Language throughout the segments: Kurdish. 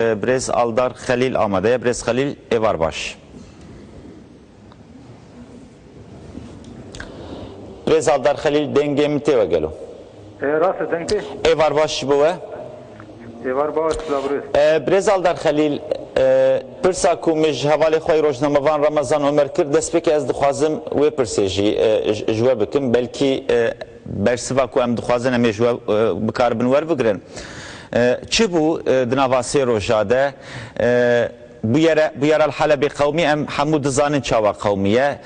Birêz Aldar Xelîl amade ye. Birêz Xelîl, êvar baş. Birêz Aldar Xelîl, dengê min tê we gelo? E, rast e, deng tê. Êvar baş ji bo we. Êvar baş, bila birêz. E, Birêz Aldar Xelîl, e, pirsa ku min ji hevalê xwe yê rojnamevan Ramazan Omer kir, destpêkê ez dixwazim wê pirsê jî e, ji we bikim. Belkî e, Bersiva ku em dixwazin em ê ji we bikaribin werbigirin çi bû? Di nava sê roja de bûyere Bûyera li Helebê qewimî em hemû dizanin çawa qewimî ye.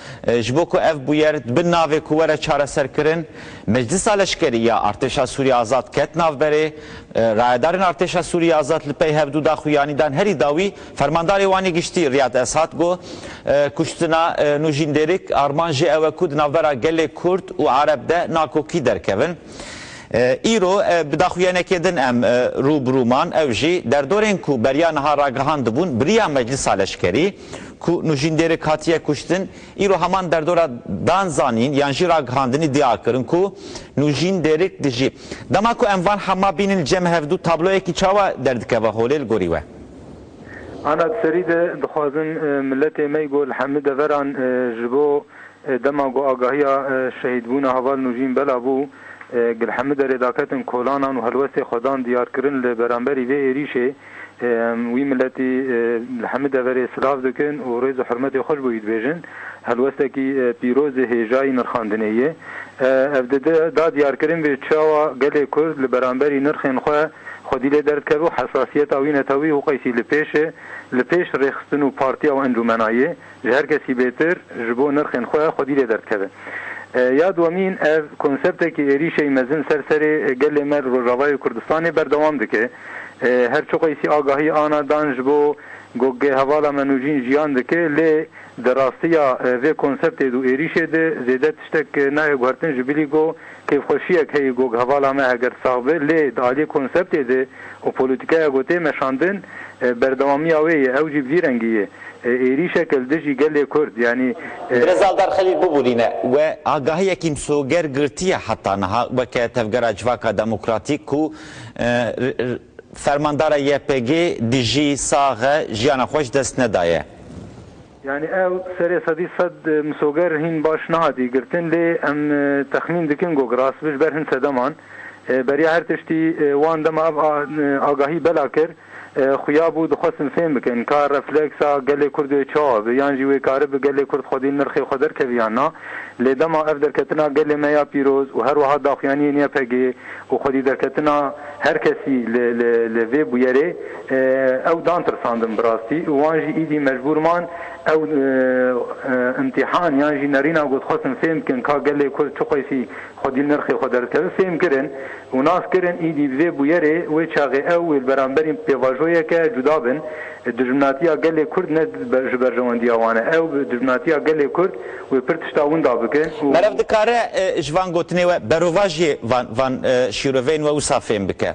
Ji bo ku ev bûyer di bin navê ku were çareserkirin, Meclisa Leşkerî ya Artêşa Sûriyê Azad ket navberê. Rayedarên Artêşa Sûriyê Azad li pey hevdû daxuyanî dan herî dawî, Fermandarê Wanê Giştî Riyad Esat got, Kuştina Nûjîn Dêrik armanc jê ew e ku di navbera gelê Kurd û Ereb de nakokî derkevin. Îro bi daxuyanekê din em rû bi rû man, ew jî derdorên ku beriya niha ragihandibûn biriya meclisa leşkerî ku Nûjîn Dêrik hatiye kuştin, îro heman derdora dan zanîn yan jî ragihandinî dîa kirin ku Nûjîn Dêrik dijî. Dema ku em van hema bînin li cem hevdu tabloyekî çawa derdikeve holê li gorî we? Ana di serî de dixwazin miletê me ku li hemî deveran ji bo dema ku agahiya şehîdbûna heval Nûjîn bela bû ku li hemî derê daketin kolanan û helwestê xwe dan diyarkirin li beramberî vê êrîşê wî miletî li hemî deverê silav dikin û rêz û hurmetê xwe ji bo wî dibêjin helwestekî pîrozê hêjayî nirxandinê ye. Ev da diyarkirin vê çawa gelê Kurd li beramberî nirxên xwe xwedî lê derdikeve û hesasiyeta wî netewî û qeysî li pêş e, li pêş rêxistin û partiya û encûmenayê, ji her kesî bêtir, ji bo nirxên xwe xwedî lê derdikeve. Ya dwemîn, ev konseptekî êrîşey mezin ser serê gelê me li Rojavayê Kurdistanê berdewam dike. Her çi qeysî agahî ana dan ji bo gogê hevala me nûjîn jiyan dike, lê di rastiya vê konseptê dû êrîşê de zêde tiştek nayê guhertin ji bilî ku Kêfxweşiyek heye gog hevala me heger sax be lê di aliyê konseptê de û polîtîkaya ku tê meşandin berdewamiya wê ye ew jî bi vî rengî ye êrîşeke li dijî gelê Kurd yanî Birêz Aldar Xelîl bibûrîne we agahiyekî misoger girtiye heta niha weke Tevgera Civaka Demokratîk ku Fermandara YPG'ê dijî sax e jiyana xwe ji dest nedaye. Yanî ew serê sedî sed misoger hîn baş nehatiye girtin lê em texmîn dikin got rastbi ji ber hin sedeman beriya her tiştî wan dema ev agahî bela kir xuya bû dixwestin fêm bikin ka refleksa gelê kurd wê çawa bi yan jî wê karibi gelê kurd xwedî nirxê xwe derkevî yan na lê dema ev derketina gelê me ya pîroz û herwiha daxuyaniyên ypg û xwedî derketina herkesî li vê bûyerê Ew dan tirsandin bi rastî û wan jî îdî mecbûr man ew îmtîhan yan jî nerîna ku dixwestin fêm bikin ka gelê Kurd çi qeysî xwedî nirxê xwe derdikeve fêm kirin û nas kirin. Îdî bi vê bûyerê wê çaxê ew wê li beramberî pêvajoyeke cuda bin. Dijminatiya gelê Kurd ne ji berjewendiya wan e. Ew bi dijminatiya gelê Kurd wê pir tişta winda bikin û. Meriv dikare ji van gotinê we berovajiyê van şîroveyên we wisa fêm bike.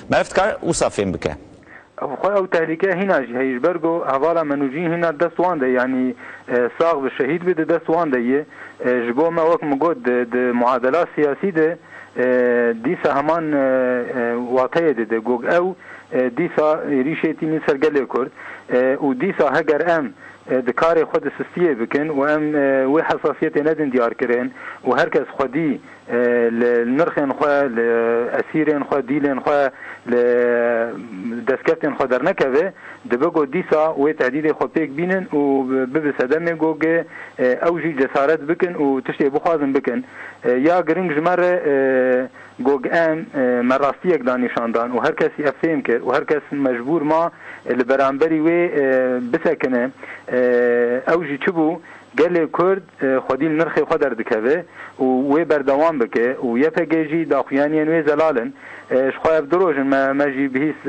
Meriv dikare wisa fêm bike. Ev xwe ew tehlike hîna jî heye ji ber ku hevala me nûjîn hîna di dest wan de yanî sax bi şehîd bi di dest wan de ye. Ji bo me wek min got di muadela siyasî de dîsa heman wateyê dide ku ew dîsa êrîşê tînî ser gelê Kurd û dîsa heger em di karê xwe di sistiyê bikin û em wê hesasiyetê nedin diyarkirin û her kes xwedî li nirxên xwe, li esîrên xwe, dîlên xwe, li destkeftên xwe dernekeve, dibe ku dîsa wê tehdîdê xwe pêk bînin û bibe sedemê ku ew jî cesaret bikin û tiştê bixwazin bikin. Ya giring ji me re ku em me rastiyek da nîşan dan û her kesî ev fêm kir û her kes mecbûr ma li beramberî wê bisekine. Ew jî çi bû? Gelê Kurd xwedî li nirxê xwe derdikeve û wê berdewam bike û ypg jî daxuyaniyên wê zelal in. Ji xwe ev du roj in me jî bihîst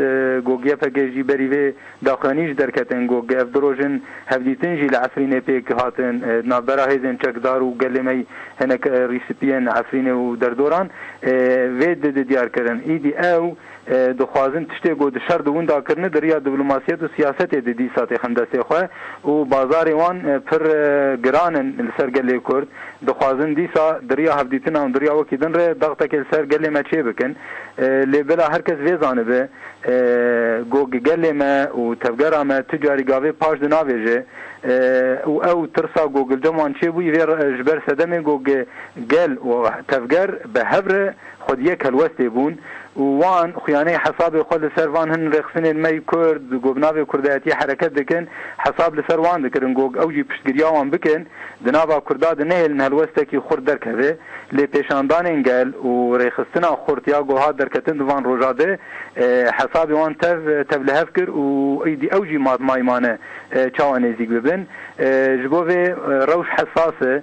ku ypg jî berî vê daxuyanî ji derketin ku ev du roj in hevdîtin jî li Efrînê pêk hatin di navbera hêzên çekdar û gelê me hinek rîspî yên Efrînê û derdoran vê diyar kirin. Îdî ew Dixwazin tiştê ku di şer de winda kirine di riya diplomasiyet û siyasetê de dîsa têxin destê xwe û bazarê wan pir giran in li ser gelê Kurd. Dixwazin dîsa di riya hevdîtina û di riya wekî din re daxtekê li ser gelê me çê bikin. Lê bila her kes vê zanibe ku gelê me û tevgera me tu carî gavê paş di navêje û ew tirsa ku li cem wan çê bûyî vê ji ber sedemê ku gel û tevger bi hev re Xwediyê kelwestê bûn û wan xuyanê hesabê xwe li ser van hin rêxistinên me y Kurd ku bi navê kurdayetiyê hereket dikin hesab li ser wan dikirin ku ew jî piştgiriya wan bikin di nava Kurda di nehêlin helwestekî xurt derkeve lê pêşandanên gel û rêxistina xurt ya ku hat derketin di van roja de hesabê wan tev tev li hev kir û êdî ew jî maymane çawa nêzîk bibin ji bo vê rewş hesas e.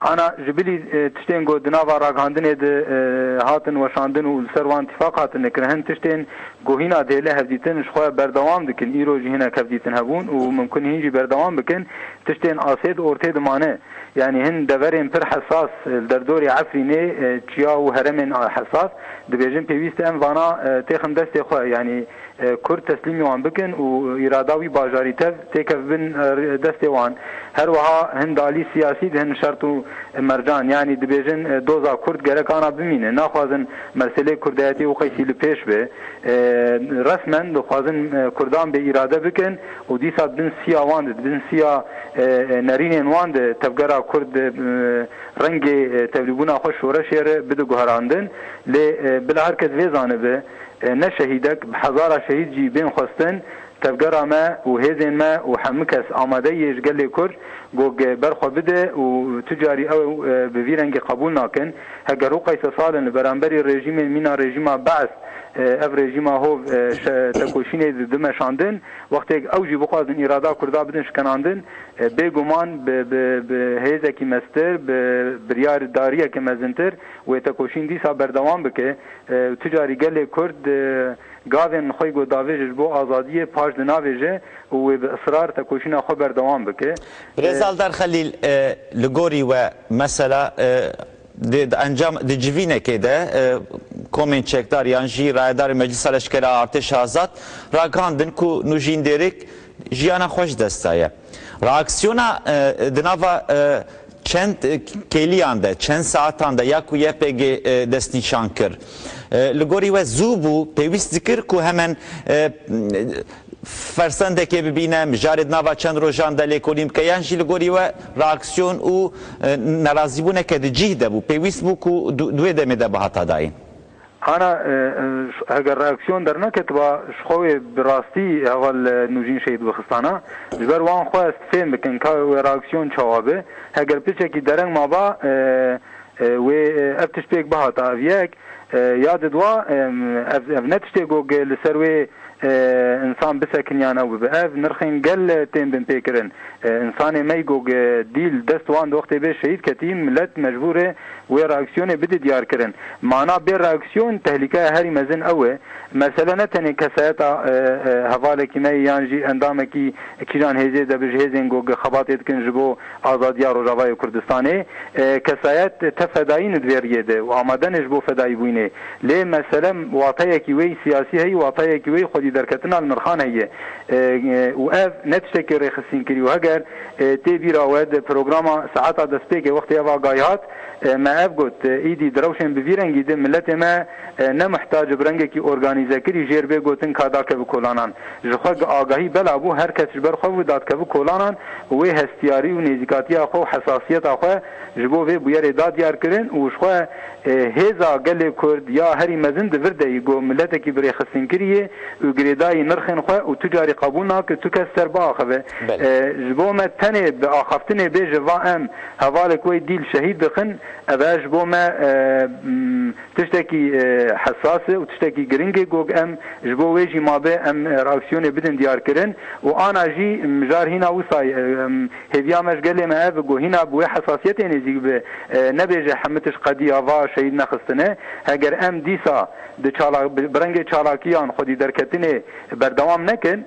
Ana ji bilî tiştên ku di nava ragihandinê de hatin weşandin û li ser wan tîfaq hatin nekirin, hin tiştên ku hîna dêle hevdîtin ji xwe berdewam dikin, îro jî hinek hevdîtin hebûn û mimkun e hîn jî berdewam bikin, tiştên asê di ortê dimane. Yanî hin deverên pir hesas li derdorê Efrînê, Çiya û heremên hesas, dibêjin pêwîst e em vana têxin destê xwe, yanî. Kurd teslîmî wan bikin û îrada wî bajarî tev têkev bin destê wan. Her wiha hin dalî siyasî dihin şert û mercan yanî dibêjin doza kurd gerek ana bimîne. Naxwazin meselê kurdayetî û qeysî li pêş be. Resmen dixwazin kurdan bê îrade bikin û dîsa di bin siya wan de, di bin siya nerînên wan de tevgera kurd rengê tevlîbûna xwe şoreşê re bide guherandin. Lê bila her kes vê zanibe. Ne şehîdek, bi hezara şehîd jî bên xwestin, tevgera me û hêzên me û hemû kes amadeyî yê ji gelê Kurd gog ber xwe bide û tu carî ew bi vî rengî qebûl nakin. Heger hû qeysa sal in li beramberî rejîmên mîna rejîma Be'es, ev rejîma hov tekoşînê di meşandin, wextêk ew jî bixwazin îrada Kurda bidin şikenandin, bê guman bi hêzekî meztir, bi biryardariyeke mezintir wê tekoşîn dîsa berdewam bike. Û tu carî gelê Kurd gavên xwe ku davêje ji bo azadiyê paş di navêje û wê bi israr tekoşîna xwe berdewam bike. Birêz Aldar Xelîl, li gorî we mesela di encam di civînekê de komên çekdar yan jî rayedarên Meclisa Leşkera Artêşa Azad ragihandin ku Nûjîn Dêrêk jiyana xwe ji dest daye. Reaksiyona di nava çend kêliyan de, çend saetan de ya ku YPG destnîşan kir li gorî we zû bû, pêwîst dikir ku hemen fersendekê bibîne, mijarê di nava çend rojan de lêkolîn bike yan jî li gorî we reaksiyon û nerazîbûneke di cîh de bû, pêwîst bû ku di wê demê de bihata dayîn. Ana, heger reaksiyon derneketiba ji xwe wê bi rastî heval Nûjîn Şehîd bixistana. Ji ber wan xwe ez fêm bikim ka wê reaksiyon çawa be. Heger piçekî dereng maba wê ev tişt pêk bihata. Ev yek. Ya di dwa, ev ne tiştê ku li ser wê însan bisekiniyan ew bibe. Ev nirxên gel tên binpêkirin. Însanê me Igog Dîl dest wan doxtê bê şehîd ketî, milet mecbûr e wê reaksiyonê bide diyarkirin. Mana bê reaksiyon tehlîkeya herî mezin ew e. Mesele ne tenê kesayeta hevalekî me ye yan jî endamekî kîjan hêzê de bi ji hêzên Gog xebatê dikin ji bo Azadiya Rojavayê Kurdistanê kesayet te fedaî ne di vê riyê de û amade ne ji bo fedaîbûnê. Lê mesele wateyekî wê yî siyasî heye û wateyekî wê yî xwedîderketina li nirxan heye û ev ne tiştekî rêxisînkirî û heger tê bîra we di programa Saeta Destpêkê wextê ev agahî hat me ev got, Îdî di rewşên bi vî rengî de miletê me Ne mihtac bi rengekî organîzekirî jêr bê gotin ka dakeve kolanan. Ji xwe gi agahî bela bû her kes ji ber xwe bû dadkeve kolanan û wê hestiyarî û nêzîkatiya xwe û hesasiyeta xwe ji bo vê bûyerê da diyar kirin û ji xwe hêza gelê Kurd ya herî mezin di vir de yî ku miletekî birêxistingirî yê û girêdayî nirxên xwe û tu carî qebûl nake tu kes ser biaxeve. Ji bo me tenê bi axaftinê bê ji va em hevalek wey dîl şehîd dixin ev e ji bo me Tiştekî hesas e û tiştekî giring e gog em ji bo wê jî mabe em reaksiyonê bidin diyarkirin û ana jî mijar hîna wisa ye. Hêviya me ji gelê me ev e ku hîna bi wê hesasiyetê nêzîk be. Nebêje hemû tişt qedî ava şehîd nexistine. Heger em dîsa di çalak bi rengê çalakiyan xwedî derketinê berdewam nekin,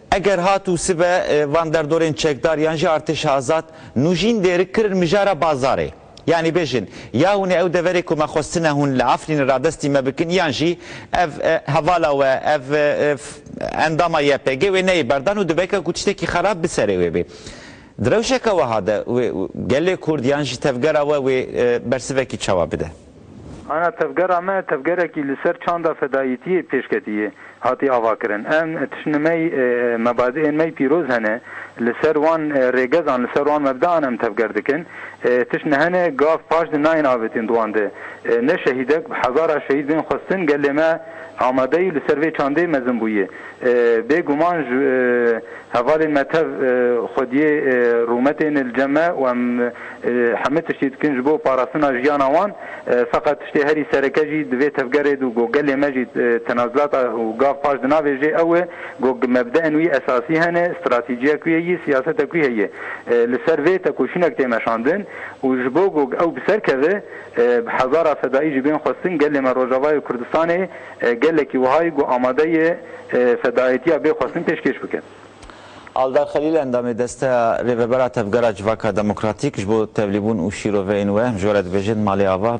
Eger hat û sibe van derdorên çekdar yan jî artêşa azad nû jîn dêrik kirin mijara bazarê. Yanî bêjin ya hûn ê ew deverê ku me xwestine hûn li Efrînê radestî me bikin yan jî ev hevala we, ev endama YPG wê neyê berdan û dibêke ku tiştekî xerab bi serê wê bê. Di rewşeke weha de wê gelê Kurd yan jî tevgera we wê bersivekî çawa bide? Ana tevgera me tevgerekî li ser çanda fedayîtiyê pêşketiyê hatî avakirin. Em tiştine me yî mebadiên me yî pîroz hene. Li ser wan rêgezan, li ser wan mebdean em tevger dikin. Tiştine hene gav paş di nayên avêtîn di wan de ne şehîdek bi hezara şehîd bên xwestin. Gelê me amade yî li ser vê çandê mezin bûye. Bê guman ji hevalên me tev xwediyê rûmetê yên li cem e û em hemû tiştî dikin ji bo parastina jiyana wan. Feqet tiştê herî sereke jî di vê tevgerê de û ku gelê me jî tenazulat a û gav paş dinavêjê ew e ku mebdeên wî esasî hene, stratejiyek wî heyî, siyasetek wî heyî. Li ser vê tekoşînek tê meşandin û ji bo ku ew bi ser keve bi hezara fedaî jî bên xwestin gelê me Rojavayê Kurdistanê, Gelekî wiha ye ku amade ye fedaîtiya bê xwestin pêşkêş bike. Aldar Xelîl endamê Desteya Rêvebera Tevgera Civaka Demokratîk ji bo Tevlîbûn û Şîroveyên we ji we re dibêje di Malê Ava,